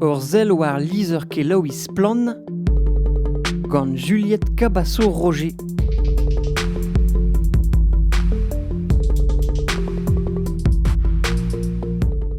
Ur sell war lizher-kelaouiñ Splann! gant Juliette Cabasso-Roger.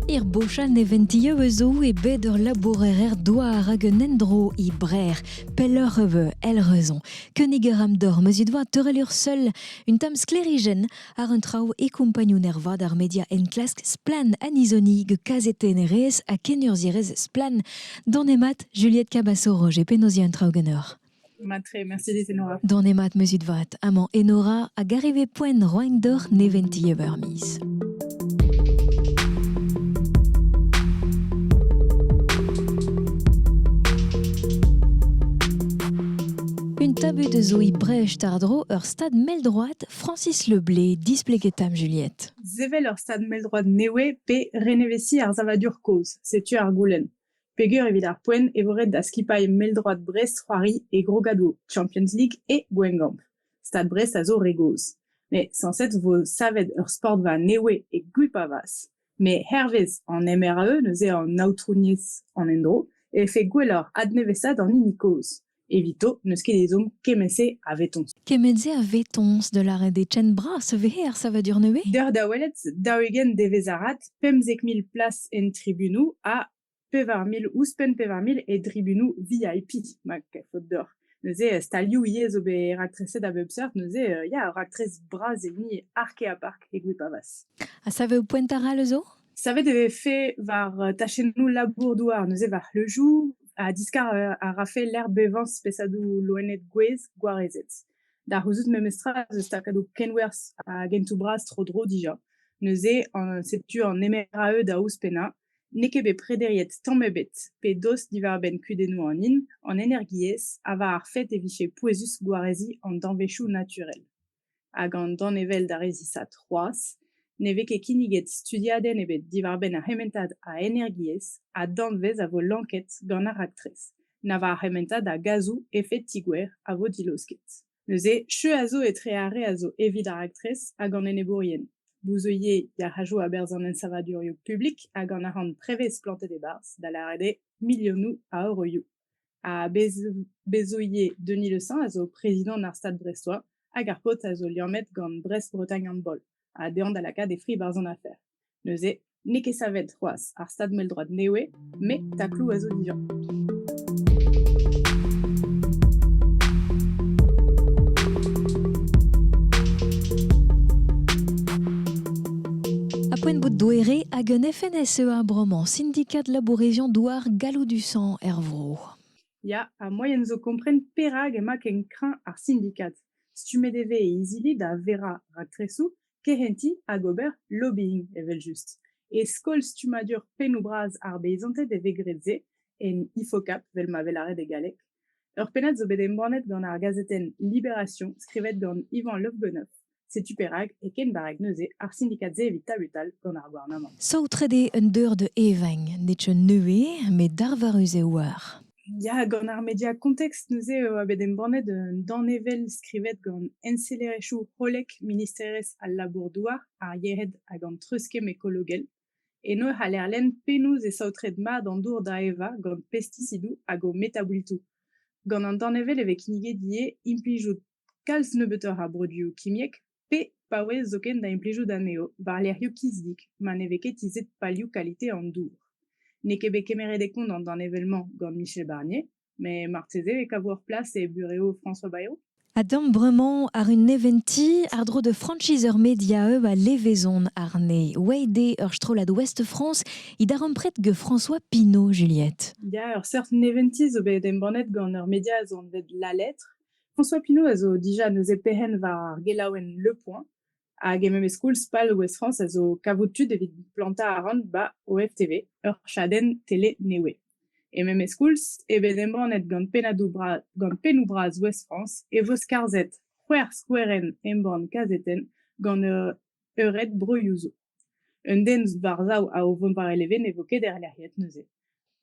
Er bochal neventieu eus zo e bet ur labourer douar hag un endro e Brer, pelloc'h eus el reuzon. Kenig a ram d'or meus it doa teurel ur seul, un tamm sklerijenn Ar un traoù e kompagnun ervat ar media enklask Splann Anizoni gant kazetennerez ha kenurzhierez Splann Donemat Juliette Cabasso Roger penaos un traoù ganeoc'h Matre, merci dit Enora. Donemat meuzit vat, amañ Enora a gareve poent roain d'or neventi evermiz. Un tabu de zoï brèche tardro ur stad mell droite Francis Le Blé, displeget am Juliette. Sevel ur stad mell-droad nevez pe reneveziñ ar savadur kozh, setu ar goulenn. Peger evit ar poent e vo ret da skipailh mell-droad Brest c'hoari e Grogado, Champions League e Gwengamp. Stad Brest a zo re gozh. Met sañset vo savet ur sportva nevez e Gwipavaz. Met hervez an MRE, neuze an aotrouniezh an endro e vefe gwelloc'h adnevesaat an hini kozh. Evito n'eus ket ezhomm kement-se a vetoñs. Kement-se a vetoñs da lâret eo ken bras e vez er savadur nevez? Deoc'h da welet daou-ugent devezh arat pemzek mil plas en tribunoù ha pevar mil, ouzhpenn pevar mil e tribunoù VIP, ma faot deoc'h. Neuze euh, stalioù ivez zo bet raktreset a bep seurt, neuze euh, ya, raktres bras hini ark ha park e Gwipavas. Ha savet poent ara le zo? Savet e vez fait war euh, tachennoù labour-douar, neuze war c'hleujou, ha diskar a rafe lec'h bevañ spesadoù loened gwez gwarezet. Da c'houzout memestra eus takadoù kenwerzh a gentoù bras tro-dro dija. Neuze, setu an MRAE da ouzhpennañ, n'eo ket bet prederiet tamm ebet pe dost diwar-benn kudennoù an hin, an energiezh ha war ar fet e vije pouezus gwareziñ an danvezioù naturel. Hag an danevell d'ar re zisav c'hoazh ne vez ket kinniget studiadenn ebet diwar-benn ar c'hementad a energiezh ha danvez a vo lanket gant ar raktres, na war ar c'hementad a gazoù efed-tigouer a vo dilaosket. Neuze, cheu a zo etre ar re a zo evit ar raktres hag an enebourien, bouzeuier yac'hajoù a-berzh an ensavadurioù publik hag an arc'hant prevez plantet e-barzh, da lâret eo milionoù a euroioù. Ha bezoïer Denis Le Saint a zo prezidant ar Stad Brestois hag ar paotr a zo liammet gant Brest-Bretagne Handball ha dezhañ da lakaat e fri barzh an afer. Neuze, n'eo ket savet c'hoazh ar stad mell-droad nevez, met takloù a zo dija. poent bout douere hag un FNSEA bremañ, syndicat labourésion douar Galloù du Sang er vro. Ya, ha moaien zo kompren perak emañ ken kreñv ar syndicat. Stummet e vez e izili da verañ raktresoù kehentiñ hag ober lobbying evel-just. E skol stummadur pennoù-bras ar beizanted e vez graet se, en IFOCAP vel ma vez lâret e galleg. Ur pennad zo bet embannet gant ar gazetenn Libération, skrivet gant Ivan Lofbenoff. Setu perak, e ken barrek neuze, ar sindikad-se evit tabutal gant ar gouarnamant. Saotret eo un deur da evañ, netra neue met darvarus eo war. Ya, gant ar media context, neuze e oa bet embannet un danevell skrivet gant ensellerezhioù hollek ministerezh al labour-douar, ar yered hag an treuzkemm ekologel. Eno e c'haller lenn penaos e saotret mat an dour da evañ gant pestisidoù hag o metaboultoù. Gant an danevell e vez kinniget ivez implijout kalz nebeutoc'h a broduoù kimiek, pe paouez zoken da implijout anezho war-lerc'hioù kizdik ma ne vez ket tizhet palioù kalite an dour. N'eo ket bet kemeret e kont an danevell-mañ gant Michel Barnier, met marteze e kavo ur plas e burev François Bayrou. Adamp bremañ àr un neventiñ àr-dro da franchise ur mediaeub a levezon àrne. Oaet eo ur strollad Ouest-France he darempred gant François Pinault, Juliette. Ya, ur seurt neventiñ zo bet embannet gant ur media anvet La Lettre François Pinault a zo dija neuze perc'henn war ar gelaouenn Le Point, hag e memes koulz pal Ouest-France a zo kavout tud evit plantañ arc'hant 'ba OFTV, ur chadenn tele nevez. E memes koulz eo bet embannet gant pennadoù bra- gant pennoù bras Ouest-France e vo skarzhet c'hwec'h skouerenn embann kazetenn gant ur Eured-broioù zo. Un den war-sav a o vont war e leven ne vo ket erlec'hiet neuze.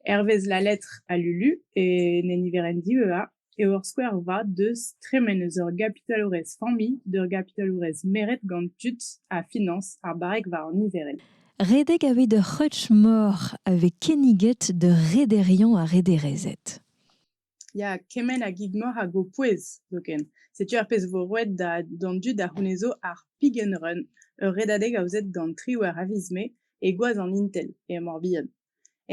Hervez La Lettre à Lulu, e ne niverenn diveuhañ, eo ur skouer vat deus tremen eus ur gapitalourez familh d'ur gapitalourez meret gant tud ha finañs ar barrek war an niverenn. Redek aveit ur c'hreutch-mor a vez kinniget d'ur rederiañ ha rederezed. Ya, kement a gig-mor hag ho pouez zoken. Setu ar pezh 'vo roet da d'an dud a c'hounezo ar Pig and Run, ur redadeg aozet gant triwec'h a viz Mae e gwaz an Intel e Mor-Bihan.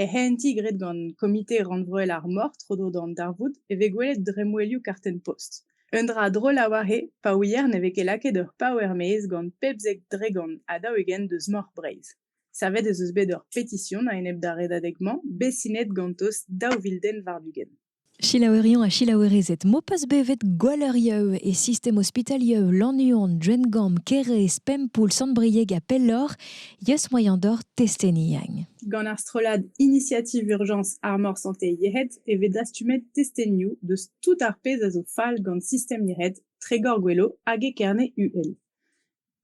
Er c'hehentiñ graet gant Komite rannvroel ar mor tro-dro d'an darvoud e vez gwelet dremmwelioù kartenn-post. Un dra drol a-walc'he pa ouier ne vez ket lakaet ur paouer-maez gant pemzek dregont ha daou-ugent deus Mor Breizh. Savet ez eus bet ur petision a-enep d'ar redadeg-mañ, bet sinet ganto daou vil den war-ugent. Selaouerion ha selaouerezed m'ho peus bevet Gwalleurieu e sistem ospitalieu Lannuon, Drengamp, Kêrez, Pempoull, Sant-Brieg ha pelloc'h, yeus moaien d'hor testeni. Gant ar strollad Initiative Urgence Armor Santé Yec'hed e vez dastumet testenioù deus tout ar pezh a zo fall gant sistem yec'hed Tregor Gwelo hag e Kerne-UL.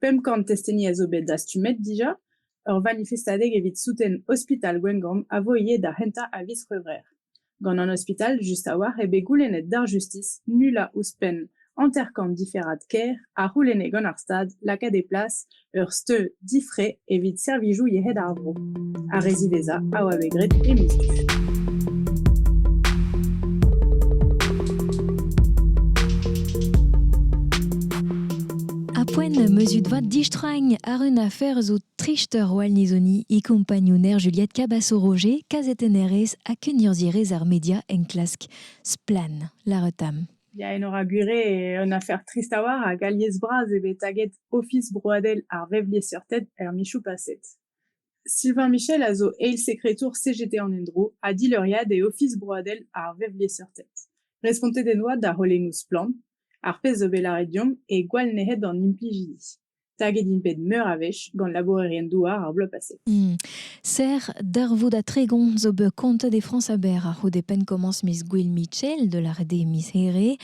pemp kant testeni a zo bet dastumet dija. Ur vanifestadeg evit souten ospital Gwengamp a vo ivez da c'hentañ a viz C'hwevrer. Gant an ospital just a-walc'h eo bet goulennet d'ar justis nullañ ouzhpenn hanter-kant diferad kêr a c'houlenne gant ar Stad lakaat e plas ur steud difre evit servijoù yec'hed ar vro. Ar re ziwezhañ a oa bet graet e miz du. Apoen meuzut vat distragn ar un afer zo trist Roal Nizoni e compagnouner Juliette Cabasso-Roger, kazetennerez ha kenurzierez ar media en klask Splan, la retam. Ya, en aura gure un afer trist a war hag alies bras eo bet taget Ofis broadel ar vevliesseurted er michoù paset. Sylvain Michel a zo eil sekretour CGT an endro ha dileuriad e Ofis broadel ar vevliesseurted. Respontet en doa da c'holennoù Splann, ar pezh zo bet lâret deomp e gwall nec'het d'an implijidi. Taget int bet meur a wech gant labourerien-douar ar bloaz paset. Hmm. Serr darvoud ha tregont zo bet kontet e Frañs aber a-c'houde penn-komañs miz Gouel Mitchell da lâret eo miz Here.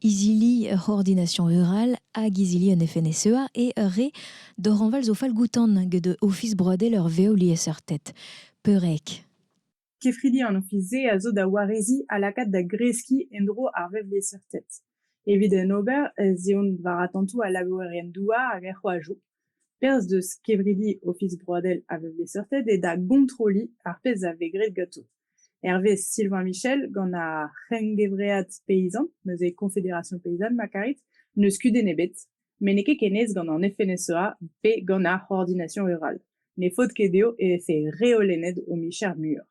izili ur c'hoordination rural hag izili un FNSEA e ur re doranval zo falgoutan get Ofis broadel ur vev liesseurted. Peurrec. Kefridi an ofis-se a zo da wareziñ ha lakaat da greskiñ en-dro ar vevliesseurted. Evit en ober ez eont war atantoù al labourerien-douar hag er c'hoajoù. Perzh deus kevridi Ofis Broadel a vez bet seurtet eo da gontroliñ ar pezh a vez graet ganto. Hervez Sylvain Michel, gant ar c'hengevread peyzant, neuze Confédération paysanne ma karit, n'eus kudenn ebet, met n'eo ket ken aes gant an FNSEA pe gant ar C'hoordination rurale. Ne faot ket dezho e vefe reolennet o micher muioc'h.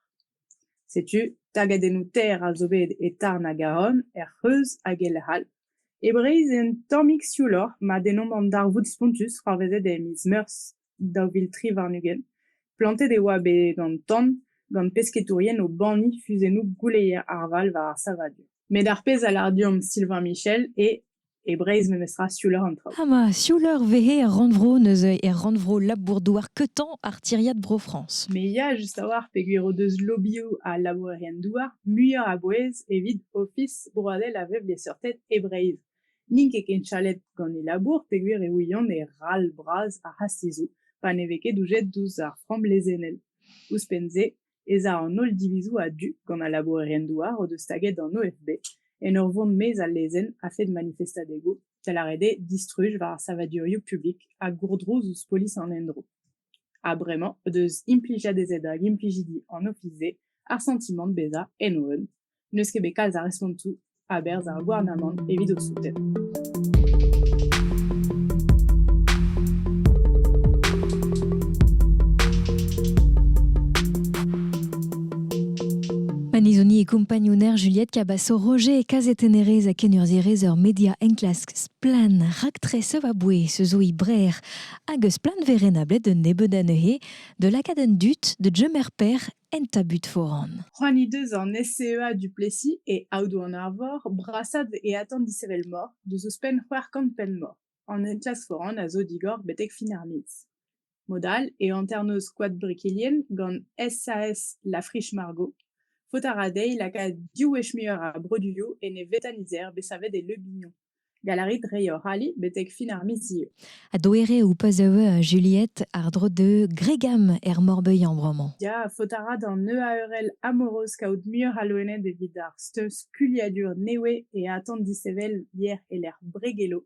Setu tagadennoù ter a zo bet e Tarn ha Garonne, er C'hreuz hag e lec'h all. E Breizh eo un tammig siouloc'h ma dennomp an darvoud spontus c'hoarvezet e miz Meurzh daou vil tri warn-ugent. Plantet e oa bet an tan gant pesketourien o banniñ fuzennoù gouleier ar Val war ar savadur. Met ar pezh a lâr deomp Sylvain Michel eo e Breizh memestra siouleur an traoù. Ha ma siouleur vehe er rannvro neuze er rannvro labour-douar keutant ar tiriad Bro-France. Me ya just a-walc'h peogwir o deus lobioù ha labourerien-douar muioc'h a bouez evit Ofis broadel a vevliesseurted e Breizh. N'int ket ken chalet gant e labour peogwir e ouiont e ral bras ar c'hastizoù pa ne vez ket doujet ouzh ar framm lezennel. Ouzhpenn-se ez a an holl divizoù a-du gant al labourerien-douar o deus staget an OFB en ur vont maez al lezenn a-fet manifestadegoù, da lâret eo distruj war ar savadurioù publik ha gourdrouz ouzh polis an endro. Ha bremañ o deus implijet ez eo da implijidi an ofis-se ar santimant bezañ en o un. n'eus ket bet kalz a respontoù a-berzh ar gouarnamant evit o souten. Panizoni e kompagnouner Juliette Cabasso, Roger e kazetennerez a kenurzhierez ur media enklask splan raktres a bouez se zo brer hag eus plan verenablet d'un nebeud anezhe de lakaat un dut de Jemer Père En tabut foran. C'hoant he deus an SCEA Duplessis e Aodoù-an-Arvor brasaat e atant dishevelmor deus ouzhpenn c'hwec'h kant penn-mor. An enklask foran a zo digor betek fin ar miz. Mod all e hanternoz Koad Brikilien gant SAS La Friche-Margot. Faot a ra dezhi lakaat div wech muioc'h a broduioù en e vetanizer bet savet e Le Bignon. Galarit rei hor ali betek fin ar miz zieu. Ha doere ou pa zeu euh, Juliette ardro de Gregam er Morbeuillan bremañ. Ya, faot a ra d'an EARL amoroz kaout muioc'h a loened evit ar steuz kuliadur newe e atant disevel yer e lec'h Bregelo.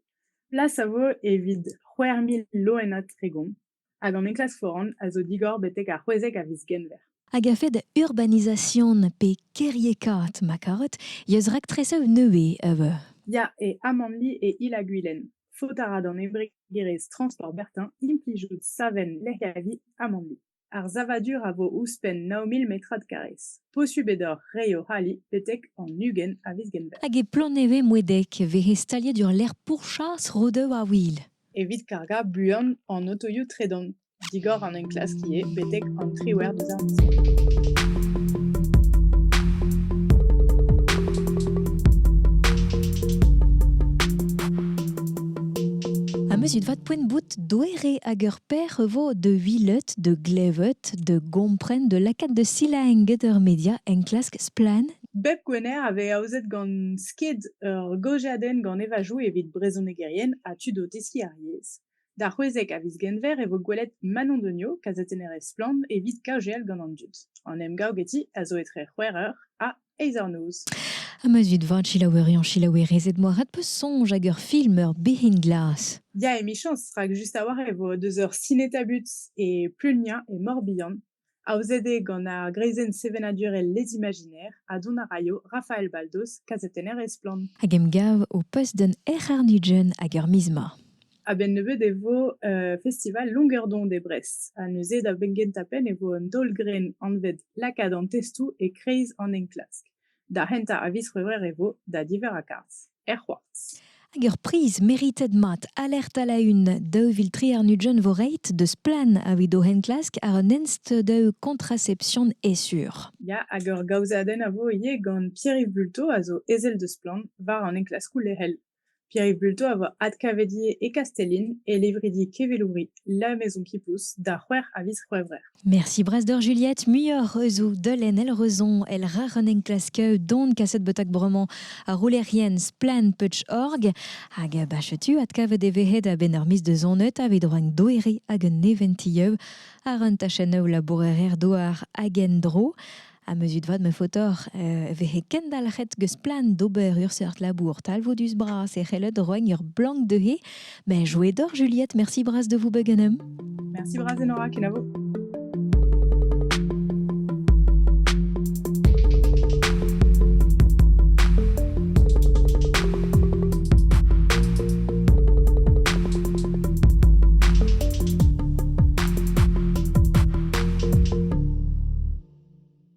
Plas a vo evit c'hwec'h mil loenad tregont. hag an enklask foran a zo digor betek ar c'hwezek a viz Genver. Hag a-fed da urbanization pe kêriekaat ma karot, yeus raktresev nevez eus Ya, e Amanli e Il-ha-Gwilen. Faot a ra d'an embregerezh Transport Bertin implijout savenn lec'hiavi Amanli. Ar savadur a vo ouzhpenn 9000 metrad karrez. Posubl eo deoc'h reiñ o c'hali betek an ugent a viz Genver. Hag e Plannevez-Moedeg e vehe staliet ur lec'h pourchas Rodev-ar-Wil. Evit kargañ buan an otoioù tredan digor an enklask ivez betek an triwec'h dizarm. Amezut vat poent-bout doere hag ur per vo de vilet, de glevet, de gompren, de lakaat de silaenget ur media enklask splann Bep Gwener a vez aozet gant sked ur gaozeadenn gant evajoù evit brezhonegerien ha tud o teskiñ ar yezh. D'ar c'hwezek a viz Genver e vo gwelet Manon Degnaud, kazetennerez Splann! evit kaozeal gant an dud. An emgav geti a zo etre c'hwec'h eur ha eizh eur noz. Ha ma zud vat, selaouerion, selaouerezed, moarvat peus soñj hag ur film ur bezhin glas. Ya, emichañs, rak just a-walc'h e vo deus ur sineta-but e Pleunia, e Mor-Bihan. Aozet eo gant ar greizenn sevenadurel Les Imaginaires ha dont a raio Rafael Baldos, kazetenner e Splann! Hag emgav ho post gant Erc'harr Nugent hag ar miz ma. A-benn nebeut e vo festival Longuerdon e Brest ha neuze da benn-gentañ penn e vo un taol-grenn anvet lakaat an testoù e-kreiz an enklask. Da c'hentañ a viz C'hwevrer e vo da diverr a garzh er c'hoartz. Hag ur priz meritet mat alert a-la-un daou vil tri warn-ugent vo reit deus Plan evit o enklask àr un ensteudaou kontraception esur. Ya, hag ur gaozeadenn a vo ivez gant Pierre-Yves Bulto a zo ezel deus Plan war an enklaskoù lec'hel. Pierre Bulto a oa adkavedier e Kastellin e levridi kevelouri La Maison qui pousse da c'hwec'h a viz C'hwevrer. Merci Brasdor Juliette, muioc'h eus o deulenn El Reuzon el Rar un enklasker don kaset betak bremañ ar roulerien Splan-Putsch-Org hag bachetu adkavet e vehe a-benn ur miz de zonet evit rank doere hag un neventioù àr un tachennoù labourerezh-douar hag en-dro. ha meuzut vat ma faotoc'h e vehe kendalc'het geus plan d'ober ur seurt labour talvoudus bras e c'hellet roiñ ur blank dezhe mais jouet doc'h Juliette merci bras de vous beganem merci bras Enora kenavo